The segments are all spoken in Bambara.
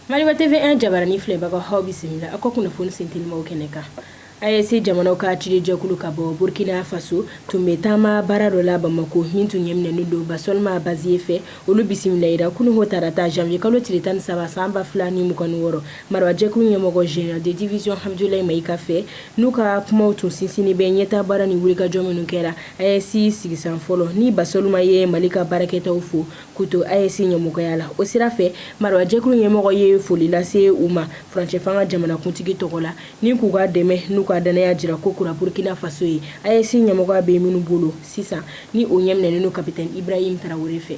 Maliba TV 1 jabaranin filɛbagaw aw bisimila aw ka kunnafoni sentelimaw kɛnɛ kan AES jamanaw ka ciden jɛkulu ka bɔ Burkina Faso tun bɛ taama baara dɔ la Bamako min tun ɲɛminɛnen don Basolma Baziye fɛ olu bisimilayira kununwo tarata janvier kalo tile tan ni saba san ba fila ni mugan ni wɔɔrɔ marabajɛkulu ɲɛmɔgɔ général de division Abudulayi Mayiga fɛ N'u ka kumaw tun sinsinnen bɛ ɲɛtaa baara ni wulikajɔ minnu kɛra AES sigisan fɔlɔ ni Basolma ye Mali ka baarakɛtaw fo k'u to AES ɲɛmɔgɔya la, o sira fɛ Marabajɛkulu ɲɛmɔgɔ ye foli lase u ma furancɛfanga jamanakuntigi tɔgɔ la ni k'u ka dɛmɛ n'u ka dannaya jira ko kura Burukina Faso ye AES ɲɛmɔgɔya bɛ minnu bolo sisan ni o ɲɛminɛnen don Kapitɛni Ibrahim Tarawele fɛ.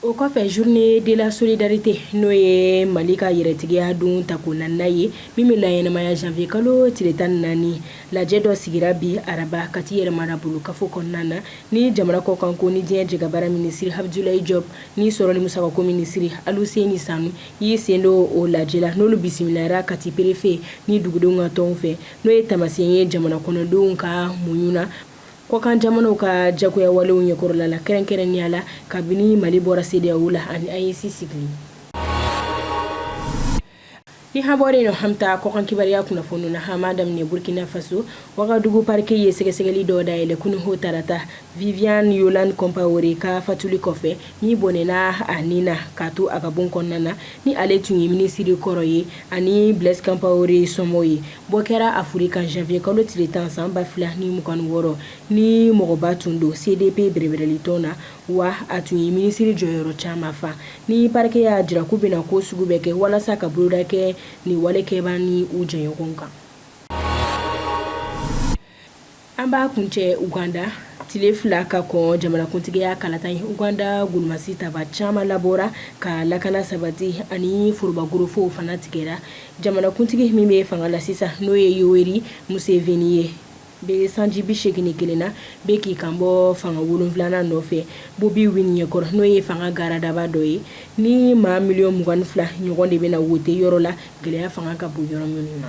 O kɔfɛ journée de la solidarité n'o ye mali ka yɛrɛtigiya don tako naaninan ye min bɛ laɲɛnamaya janvier kalo tile tan ni naani lajɛ dɔ sigira bi araba Kati yɛrɛmarabolo kafo kɔnɔna na ni jamana kɔkanko ni diɲɛ jɛkabaara minisiri Abudulayi Jɔpu ni sɔrɔ ni musakako minisiri Aluseni Sanu y'i sen don o lajɛ la n'olu bisimilayara Kati préfet ni dugudenw ka tɔnw fɛ n'o ye taamasiyɛn ye jamana kɔnɔdenw ka muɲu na Kɔkan jamanaw ka jagoyawalew ɲɛkɔrɔla la kɛrɛnkɛrɛnnenya la kabini Mali bɔra CEDEAO la ani AES sigili Ni an bɔra yen, an bɛ taa kɔkan kibaruya kunnafoniw na. An b'a daminɛ Burkina Faso. Wagadugu parquet ye sɛgɛsɛgɛli dɔ dayɛlɛ kununwo tarata, Viviane Yolande Compaore ka fatuli kɔfɛ, min bɔnɛna a ni na k'a to a ka bon kɔnɔna na, ni ale tun ye minisiri kɔrɔ ye, ani Blaise Compaore somɔɔ ye. Bɔ kɛra a fure kan janvier kalo tile 10 san 2026 ni mɔgɔba tun don CDP bɛrɛbɛrɛlitɔn na, wa a tun ye minisiri jɔyɔrɔ caman fa. Ni parquet y'a jira k'u bɛna ko sugu bɛɛ kɛ walasa ka boloda kɛ nin wale kɛbaa ni u jɛɲɔgɔnw kan. An b'a kuncɛ uganda tile fila ka kɔn jamanakuntigiya kalata ye uganda golomasi tabaa caman labɔra ka lakana sabati ani forobakorofow fana tigɛra jamanakuntigi min bɛ fanga la sisan n'o ye Yoweri Museveni ye bɛ sanji bi segin ni kelen na bɛ k'i kan bɔ fanga wolonfilanan nɔfɛ Bobi Wine ɲɛkɔrɔ n'o ye fanga garadaba dɔ ye ni maa miliyɔn mugan ni fila ɲɔgɔn de bɛna wote yɔrɔ la gɛlɛya fanga ka bon yɔrɔ minnu na